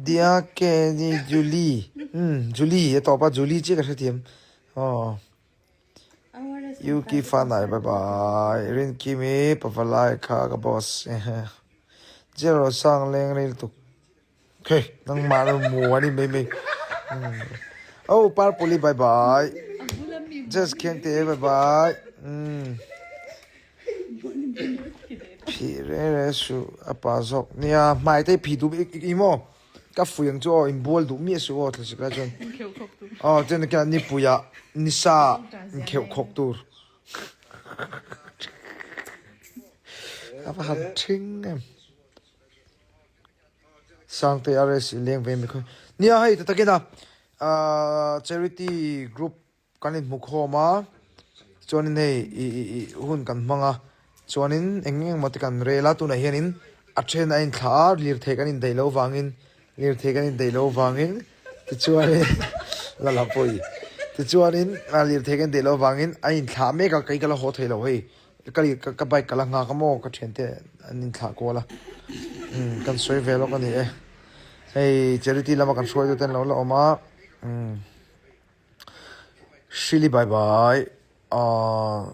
Dia ke ni Julie. Hmm, Julie, e tawpa Julie chi ka hre thiam. Oh. Yuki fanai bye bye. Rin kimi pavalai kha ka boss. Zero sang leng ril tuk. Khe, nang ma ru mu ani mai mai. Oh, par puli bye bye. Just khen te bye bye. Hmm. Phih reng reng a suh a pa zawk nia, hmai te phih duh ik ik i maw? Ka fuih ang chu aw, inbual duh miah a suh aw, thlasi ka chuan. Inkheuh khawk tur. Aw, chuan ka nipuia Nisa inkheuh khawk tur. A va han thing em. Sangte a rest i leng ve mikhawin. Nia hei ta takin a, ahh, charity group. Kan inhmu khawm a, chuanin hei i hun kan hmang a, chuanin eng eng emaw te kan rel a, tunah hianin a then a inthlah a, lirthei kan indaih loh vangin, lirthei kan indaih loh vangin, tichuanin la la pawh i, tichuanin lirthei kan indaih loh vangin a inthlah mek a, kei ka la haw thei loh hei, ka lir ka bike ka la nghak a maw, ka thiante an inthlah kual a, umm kan sawi ve lawk a ni e, hei charity lama kan hruaitetu te an lo la awm a, umm. Shili bai bai aah.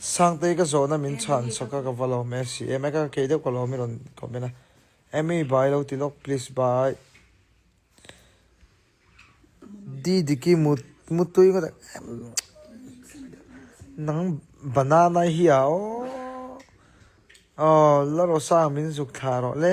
Sangtei ka zawhna min chhan saka ka va lawm e si em eka ka kei deuh ka lawm i rawn comment a Amy bai lo ti lawk please bai Didiki mut mutui ngawt em nang banana hi a aw aw la rosa min zuk thla rawh le.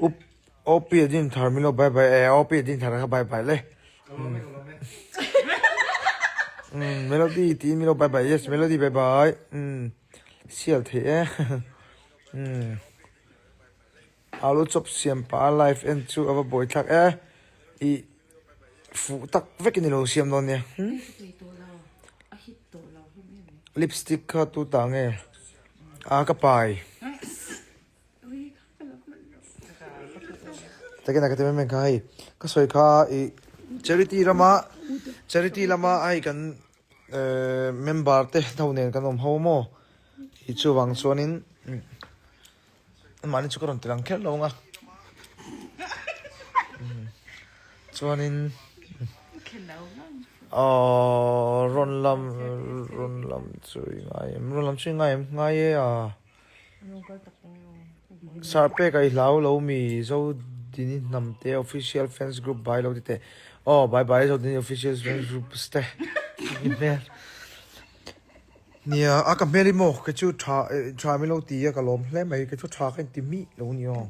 up OP a din thar milo bye bye eh OP a din thar kha bye bye le um melody ti milo bye bye yes melody bye bye um sial thei e um alu chop siam pa life en chu ava bawi thlak e i fu tak vek ni lo siam lo ne hmm? lipstick kha tu ta nge a ka pai Takin a ka ti mai mai kha hei ka sawi kha i charity lama charity lama ai kan eh, member te no nen kan awm ho maw i chu vang chuanin mani chu ka rawn tirang kher lo nga chuanin rawn lam rawn lam chu i ngai em rawn lam chu i ngai em ngai e a Sarpek a i hlau lo mi Zodini hnam te official fans group bai lo ti te aw bai bai Zodini official fans group ste ni hmel nia a ka hmel i maw ka chu tha tha mi lo ti a ka lawm hle mai ka chu tha ka inti mi lo ni aw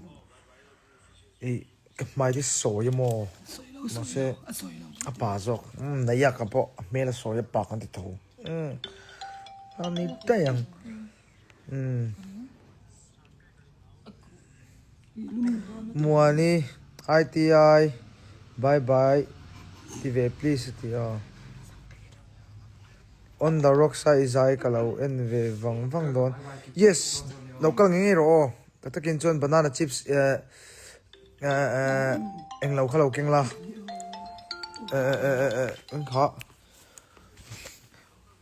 i ka hmai te sawi a maw ma se a pa zawk neiha ka pawh a hmel a sawi a pa kan ti tho a ni dai ang Muani ITI bye bye ti ve please a ti a. On the rocks a i zai ka lo en ve vang vang dawn. Yes lo kal ngei ngei rawh aw. Tah takin chuan banana chips eh eh eh eng lo kha lo keng la eh eh eh eh eh engkhah.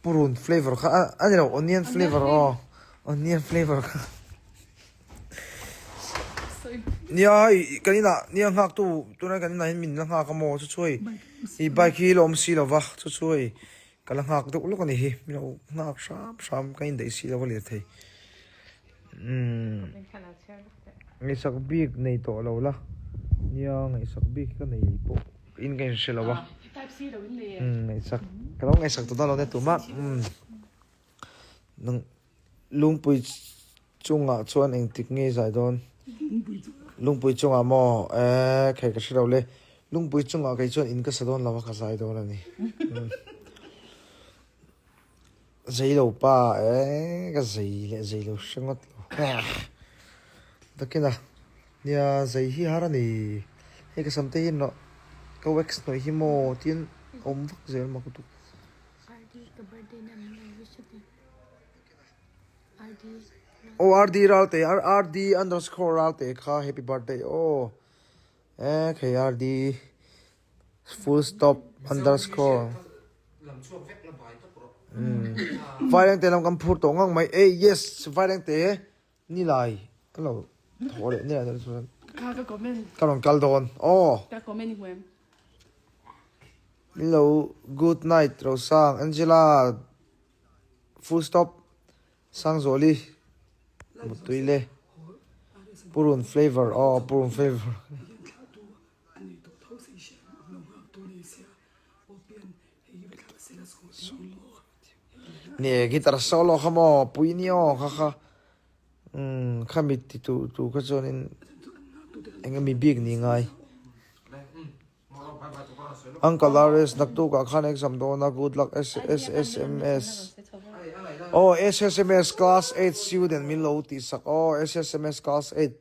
Purun flavor kha a ani lo onion flavor aw onion flavor kha nia i kan ina nia nghak tu tuna kan ina hin min la nghak amaw chu chuai i bike hi lawm si lova chu chuai kala nghak deuh lawk ani hi min lo nghak hram hram kan indaih si lova leh thei. Ngaisak bik nei tawh lo la nia ngaisak bik hi ka nei leh pawh in ka inhre lo a ngaisak ka lo ngaisak ta dalo nia tu mah nang lungpui chungah chuan engtik nge zai dawn lungpui chungah maw eh kher ka hre lo le lungpui chungah kei chuan in ka sa dawn lo a ka zai dawn a ni. Zei lo pa eehh ka zei leh zei lo hre ngawt lo eehh takin a nia zei hi har a ni hei ka sam te hi nawh ka wax hnawih hi maw tiin a awm vak zel mak dup aw rd ralte rd underscore ralte kha happy birthday aw eehh khei rd. Full stop underscore vai rengte lam kan phur tawh ngang mai e yes vai rengte ni lai ka lo thaw leh nge zel chuan ka ka comment ka rawn kal dawn o ka comment i hmuem hello good night rosang angela full stop sangzawli mutui le purun flavour o purun flavour A ni tawh tho si si ang, a lo nghak tur ni sia. Aw pian, hei hi va thlah se la sawh thin ang maw? Ni e, guitar solo kha maw, pui ni aw kha kha. Umm, kha mit ti tu tu kha chuanin enge mi bik ni ngai. Uncle RS nak tukah khan exam dawn a good luck SSMS. Aw SSMS class eight student min lo tih sak aw SSMS class eight.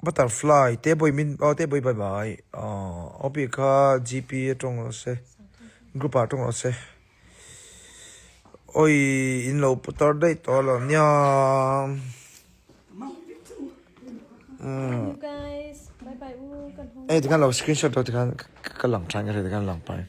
Butterfly te bawih min aw te bawih bye bye aww aw bik kha GP atawng lo se group ah atawng lo se awii in lo putar daih tawh lo nia hei tikhan lo screenshot tikhan ka lang than ka hre tikhan a lang pahin.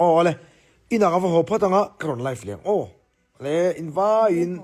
Awle, inang a va haw phat ang a, ka rawn live leng aw. Awle, invaiin.